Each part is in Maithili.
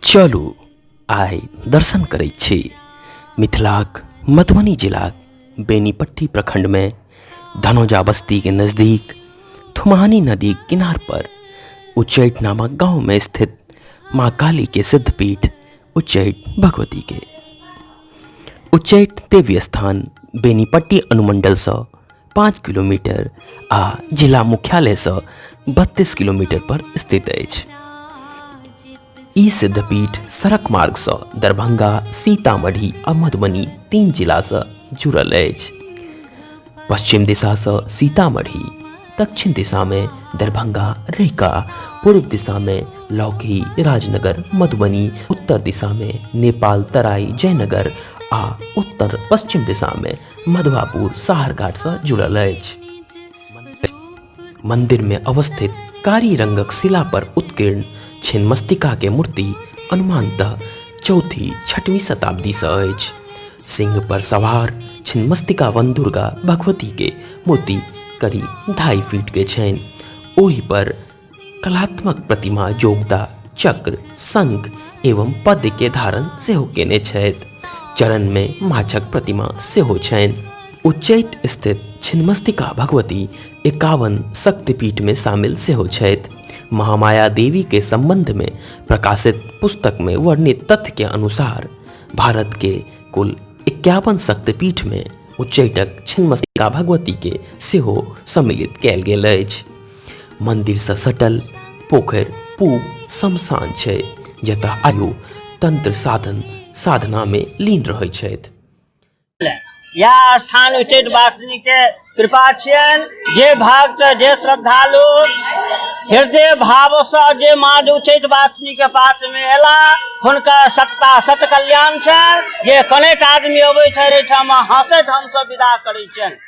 चलू आइ दर्शन करै छी मिथिलाक मधुबनी जिलाक बेनीपट्टी प्रखंडमे धनौजा बस्तीके नजदीक थुमानी नदी किनार पर उच्चैठ नामक गांवमे स्थित माँ कालीके सिद्धपीठ उच्चैठ भगवती के उच्चैठ देवी स्थान बेनीपट्टी अनुमंडलसँ पाँच किलोमीटर आ जिला मुख्यालयसँ बत्तीस किलोमीटर पर स्थित अछि ई सिद्धपीठ सड़क मार्गसँ दरभंगा सीतामढ़ी आ मधुबनी तीन जिलासँ जुड़ल अछि पश्चिम दिशासँ सीतामढ़ी दक्षिण दिशा में दरभंगा रैका पूर्व दिशा में लौकी राजनगर मधुबनी उत्तर दिशा में नेपाल तराई जयनगर आ उत्तर पश्चिम दिशा में मधुआपुर साहरघाट से जुड़ल अछि मंदिर में अवस्थित कारी रंगक शिला पर उत्कीर्ण छिन्नमस्तिका के मूर्ति अनुमानतः चौथी छठवीं शताब्दी से अछि सिंह पर सवार छिन्नमस्तिका वन दुर्गा भगवती के मूर्ति करीब ढाई फीट के छनि ओहि पर कलात्मक प्रतिमा जोगदा चक्र शंख एवं पद्य के धारण सेहो केने छथि चरण में माछक प्रतिमा सेहो छनि उच्चैठ स्थित छिन्नमस्तिका भगवती एकावन शक्तिपीठ में शामिल सेहो छथि महामाया देवी के संबंध में प्रकाशित पुस्तक में वर्णित तथ्य के अनुसार भारत के कुल इक्यावन शक्तिपीठ में उच्चैटक छिन्नमस्तिका भगवती के सेहो सम्मिलित कयल गेल अछि मंदिर से सटल पोखरि पूब शमशान छै जतः आयु तंत्र साधन साधना में लीन रहै छथि या स्थान उचित वासनी के कृपा छियन जे भक्त जे श्रद्धालु हृदय भाव से जे माँ उचित वासनी के पास में एला हुनका सत्ता सत कल्याण छनि जे कनेक आदमी अबै छै ठाम हंसैत हमसब विदा करै छनि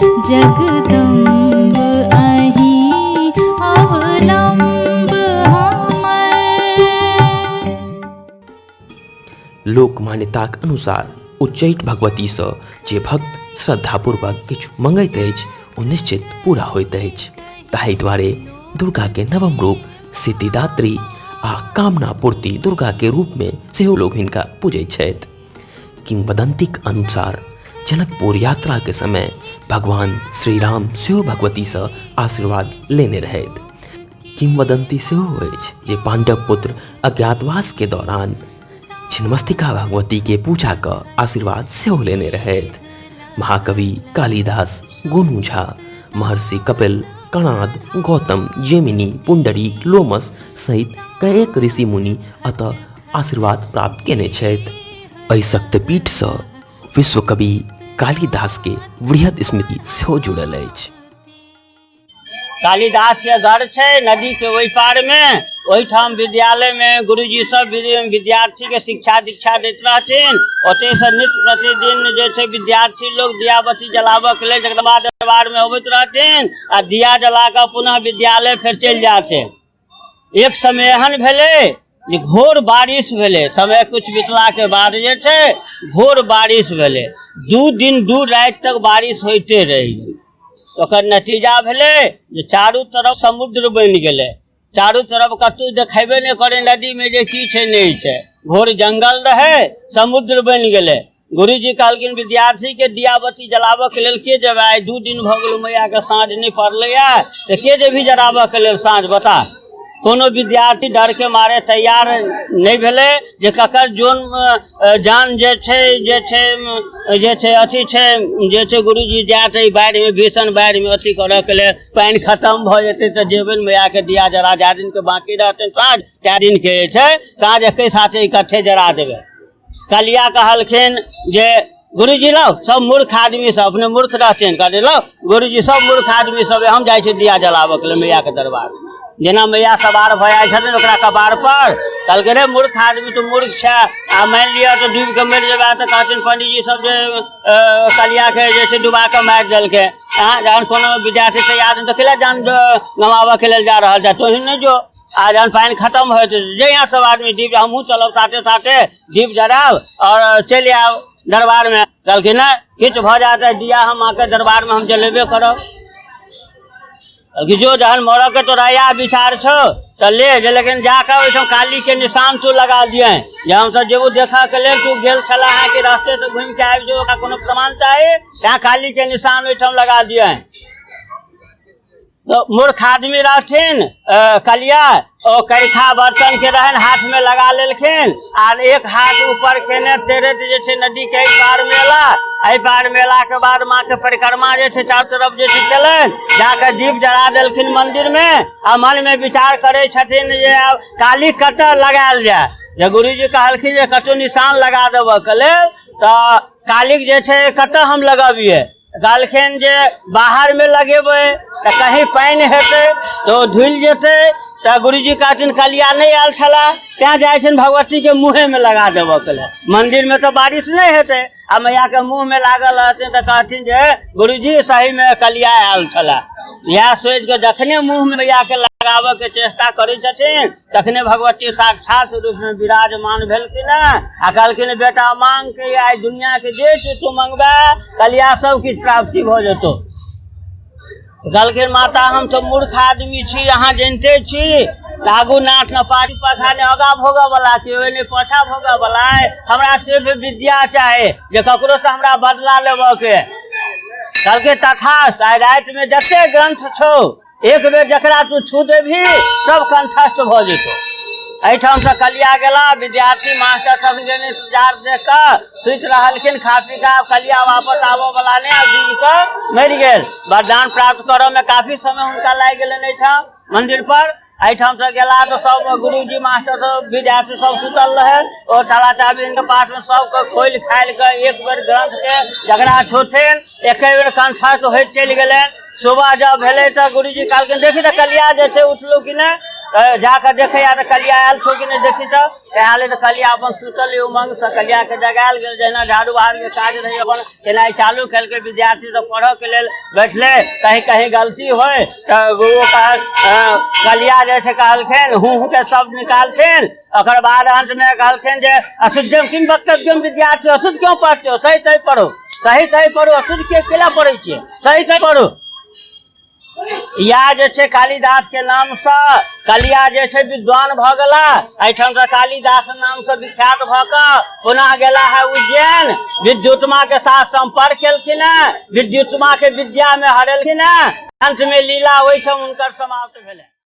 जगदम्ब अहीं अवलम्ब हमर लोक मान्यताक अनुसार उच्चैठ भगवतीसँ जे भक्त श्रद्धापूर्वक किछु मंगैत अछि ओ निश्चित पूरा होइत अछि ताहि दुआरे दुर्गाके नवम रूप सिद्धिदात्री आ कामना पूर्ति दुर्गाके रूपमे सेहो लोक हिनका पूजैत छथि किंवदंतीक अनुसार जनकपुर यात्रा के समय भगवान श्री राम सेहो भगवती से आशीर्वाद लेने रहथि किंवदंती सेहो अछि जे पांडव पुत्र अज्ञातवास के दौरान छिन्नमस्तिका भगवती के पूजा क आशीर्वाद सेहो लेने रहथि महाकवि कालिदास गोनू झा महर्षि कपिल कणाद गौतम जेमिनी पुंडरीक लोमस सहित कएक ऋषि मुनि अतः आशीर्वाद प्राप्त केने छथि एहि शक्तिपीठसँ विश्व कवि कालिदासके वृहद स्मृति सेहो जुड़ल अछि कालिदास के घर छै नदी के ओहि पार मे ओहिठाम विद्यालय मे गुरुजी सब विद्यार्थी के शिक्षा दीक्षा दैत रहथिन ओते से नित प्रतिदिन जे छै विद्यार्थी लोग दिया बत्ती जलाबऽ के लेल जगदम्बा दरबार मे अबैत रहथिन आ दिया जला कऽ पुनः विद्यालय फेर चलि जाथिन एक समय एहन भेलै जे घोर बारिश भेलै समय किछु बितलाके बाद जे छै घोर बारिश भेलै दू दिन दू राति तक बारिश होइते रहि गेलै ओकर नतीजा भेलै जे चारू तरफ समुद्र बनि गेलै चारू तरफ कतहु देखेबे नहि करै नदीमे जे की छै नहि छै घोर जंगल रहै समुद्र बनि गेलै गुरुजी कहलखिन विद्यार्थी के दियाबती जलाबऽ के लेल के जेबै आइ दू दिन भऽ गेल मैया के साँझ नहि पड़लैया तऽ के जेबही जराबऽ के लेल साँझ बता कोनो विद्यार्थी डर के मारे तैयार नहि भेलै जे ककर जोन अ, जान जे छै जे छै अ, जे छै अथी छै जे छै गुरुजी जायत एहि बाढ़ि मे भीषण बाढ़ि मे अथी करऽ के लेल पानि खत्म भऽ जेतै तऽ जेबै ने मैया के दिया जरा जा दिन के बाकी रहतै साँझ तए दिन के जे छै साँझ एकै साथे इकट्ठे जरा देबै कलिया कहलखिन जे गुरुजी लो सब मूर्ख आदमी सब अपने मूर्ख रहथिन कहलियै लो गुरुजी सब मूर्ख आदमी सब हम जाइ छी दिया जलाबऽ के लेल मैया के दरबार जेना मैया सवार भऽ जाइ छथिन ओकरा कपार पर कहलकै रे मूर्ख आदमी तू मूर्ख छै आ मानि लिअ तऽ डूबि कऽ मरि जेबा तऽ कहथिन पंडीजी सब जे अ, कलिया के जे छै डुबा कऽ मारि देलकै अहाँ जहन कोनो विद्यार्थी तैयार तऽ कैला जान गमाबऽ के लेल जा रहल छै तोही नहि जो आ जहन पानि खतम होइत जहिया सब आदमी दीप हमहूँ चलब साथे साथे दीप जराब आओर चलि आयब दरबारमे कहलखिन नहि किछु भऽ जायत तऽ दिया हम अहाँके दरबारमे हम जलेबे करब कहलखिन जो जहन मरऽके तोरा इएह विचार छौ तऽ ले जे लेकिन जाकऽ ओहिठाम कालीके निशान तू लगा दिए जे हमसभ जेबू देखऽके लेल तू गेल छला अहाँ कि रास्तेसँ घुमि कऽ आबि जो ओकरा कोनो प्रमाण चाही तैँ कालीके निशान ओहिठाम लगा दिए तो मूर्ख आदमी रहथिन अ, कलिया ओ करिखा बर्तन के रहन हाथ में लगा लेलखिन आर एक हाथ ऊपर केने तेरत जे छै नदी के एहि पार मेला एहि पार मेला के बाद माँ के परिक्रमा जे छै चारू तरफ जे छै केलनि जाके दीप जरा देलखिन मंदिर में आ मन में विचार करे छथिन जे आब काली कतऽ लगायल जाय जे गुरुजी कहलखिन जे कतौ निशान लगा देबऽ के लेल तऽ कालिक जे छै कतऽ हम लगबियै कहलखिन जे बाहरमे लगेबै तऽ कहीं पानि हेतै तऽ ओ धुलि जेतै तऽ गुरुजी कहथिन कलिया नहि आयल छलए तैँ जाइ छनि भगवतीके मुँहेमे लगा देबऽके लेल मन्दिरमे तऽ बारिश नहि हेतै आ मैयाके मुँहमे लागल रहथिन तऽ कहथिन जे गुरुजी सहीमे कलिया आयल छलए इएह सोचि कऽ जखने मुँहमे मैयाके लगाबऽके चेष्टा करै छथिन तखने भगवती साक्षात रूपमे विराजमान भेलखिन हेँ आ कहलखिन बेटा मांग के आइ दुनियाके जे किछु तू मंगबे कलिया सब किछु प्राप्ति भऽ जेतौ कहलखिन माता हम तऽ मूर्ख आदमी छी अहाँ जनिते छी लागू नाथ ने पाछू पाछा ने आगा भोगऽ बला छी ओहि ने पाछा भोगऽ बला हमरा सिर्फ विद्या चाही जे ककरो से हमरा बदला लेबऽ के कहलकै तथा रातिमे जते ग्रंथ छौ एक बेर जकरा तू छू देबही सब कंठस्थ भऽ जेतौ एहिठामसँ कलिया गेला विद्यार्थी मास्टर सब इंतजार देख कऽ सुति रहलखिन खा पी कऽ आब कलिया वापस आबऽ वाला नहि आब दिन कऽ मरि गेल वरदान प्राप्त करऽ में काफी समय हुनका लागि गेलनि एहिठाम मंदिर पर एहिठाम से गेला तऽ सब गुरुजी मास्टर सब विद्यार्थी सब सुतल रहे ओ टाला चाबी के पास में सबके खोलि खालि कऽ एक बेर ग्रंथ के जकरा छोथिन एके बेर कंठा तो होइत चलि गेलै सुबह जब भेलै तऽ गुरुजी कहलखिन देखी तऽ कलिया जे छै उठलौ कि नहि तऽ जाकऽ देखै आ तऽ कलिया आयल छौ कि नहि देखी तऽ तऽ आयल तऽ कलिया अपन सुतल उमंग से कलिया के जगायल गेल जहिना झाड़ू बहार के काज रहै अपन केनाइ चालू केलकै विद्यार्थी सब पढ़ऽ के लेल बैठले कहीं कहीं गलती होय तऽ ओ कहल अ, कलिया जे छै कहलखिन हूँ हूँ के शब्द निकालथिन ओकर बाद अंत में कहलखिन जे अशुद्धम किम वक्तव्यम विद्यार्थी अशुद्ध क्यों पढ़ते हो सही सही पढ़ो सही सही पढ़ो अशुद्ध के केला पढ़े छियै सही सही पढ़ो या जे छै कालिदास के नाम से कलिया जे छै विद्वान भऽ गेला एहिठाम से कालिदास नाम से विख्यात भऽ कऽ पुनः गेला है उज्जैन विद्युतमा के साथ संपर्क केलखिन है विद्युतमा के विद्या में हरेलखिन है अंत में लीला ओहिठाम हुनकर समाप्त भेलै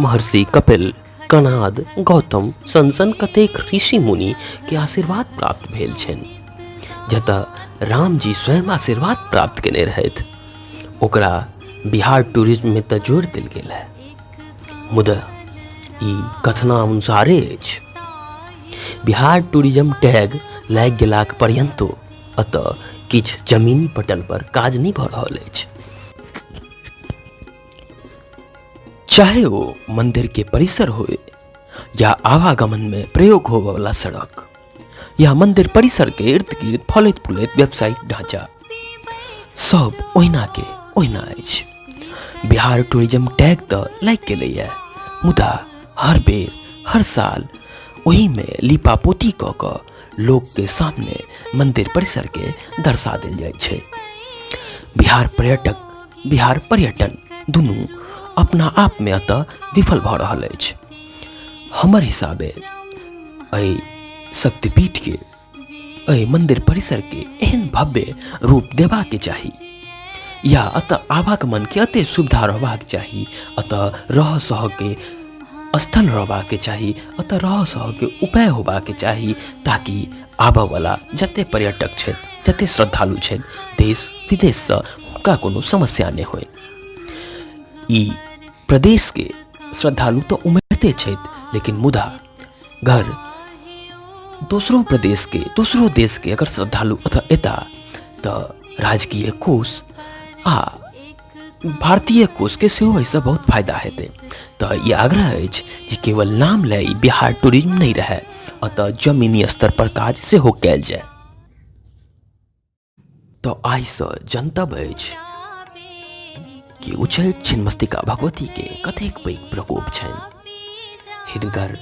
महर्षि कपिल कनाद गौतम सन सन कतेक ऋषि मुनि के आशीर्वाद प्राप्त भेल छनि जतऽ रामजी स्वयं आशीर्वाद प्राप्त केने रहथि ओकरा बिहार टूरिज्ममे तऽ जोड़ि देल गेल है मुदा ई कथनानुसारे अछि बिहार टूरिज्म टैग लागि गेलाक पर्यन्तो एतऽ किछु जमीनी पटल पर काज नहि भऽ रहल अछि चाहे वो मंदिर के परिसर हो या आवागमन में प्रयोग हो वाला सड़क या मंदिर परिसर के इर्द गिर्द फलित फुलित व्यावसायिक ढांचा सब ओहिना के ओहिना अछि बिहार टूरिज्म टैग तऽ लागि गेलैए मुदा हर बेर हर साल ओही में लीपा पोती कऽ कऽ लोक के सामने मंदिर परिसर के दर्शा देल जाइ छै बिहार पर्यटक बिहार पर्यटन दुनू अपना आप में अतः विफल भऽ रहल अछि हमर हिसाबे एहि शक्तिपीठ के एहि मंदिर परिसर के एहन भव्य रूप देबा के चाही या अतः आवागमन के अते सुविधा रहबाक चाही अतः रह सह के स्थल रहबाक चाही अतः रह सह के उपाय होबाक चाही ताकि आबयवला जते पर्यटक छथि जते श्रद्धालु छथि देश विदेशसँ हुनका कोनो समस्या नहि होय ई प्रदेशके श्रद्धालु तऽ उमड़िते छथि लेकिन मुदा घर दोसरो प्रदेशके दोसरो देशके अगर श्रद्धालु एतऽ एता तऽ राजकीय कोष आ भारतीय कोष के सेहो एहिसँ बहुत फायदा हेतै तऽ ई आग्रह अछि जे केवल नाम लए ई बिहार टूरिज्म नहि रहए अतः जमीनी स्तर पर काज सेहो कयल जाय तऽ आइसँ जनतब अछि कि उछल छिन्मस्तिका भगवती के कतेक पैघ प्रकोप छनि हिनकर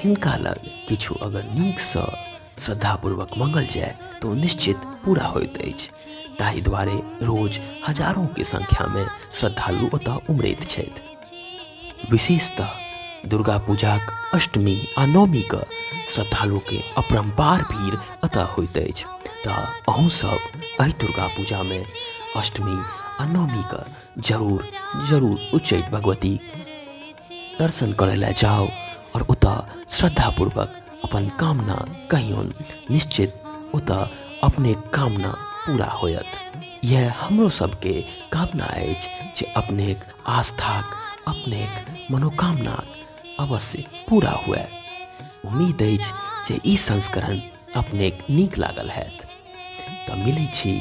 हिनका लग किछु अगर नीकसँ श्रद्धापूर्वक मंगल जाय तो निश्चित पूरा होइत अछि ताहि दुआरे रोज हजारों के संख्या में श्रद्धालु ओतय उमड़ैत छथि विशेषतः दुर्गा पूजाक अष्टमी आ नवमी के श्रद्धालु के अपरम्पार भीड़ अतः होइत अछि तऽ अहूँ सब एहि दुर्गा पूजा में अष्टमी आ नवमी के जरूर जरूर उच्चैठ भगवती दर्शन करे ला जाओ और उता श्रद्धा पूर्वक अपन कामना कहियोन निश्चित उता अपने कामना पूरा होयत यह हमरो सबके कामना अछि जे अपने आस्थाक अपने मनोकामना अवश्य पूरा हुए उम्मीद अछि जे ई संस्करण अपने नीक लागल हैत तऽ मिलै छी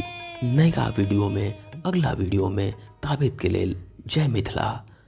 नयका वीडियोमे अगला वीडियोमे ताबेतके लेल जय मिथिला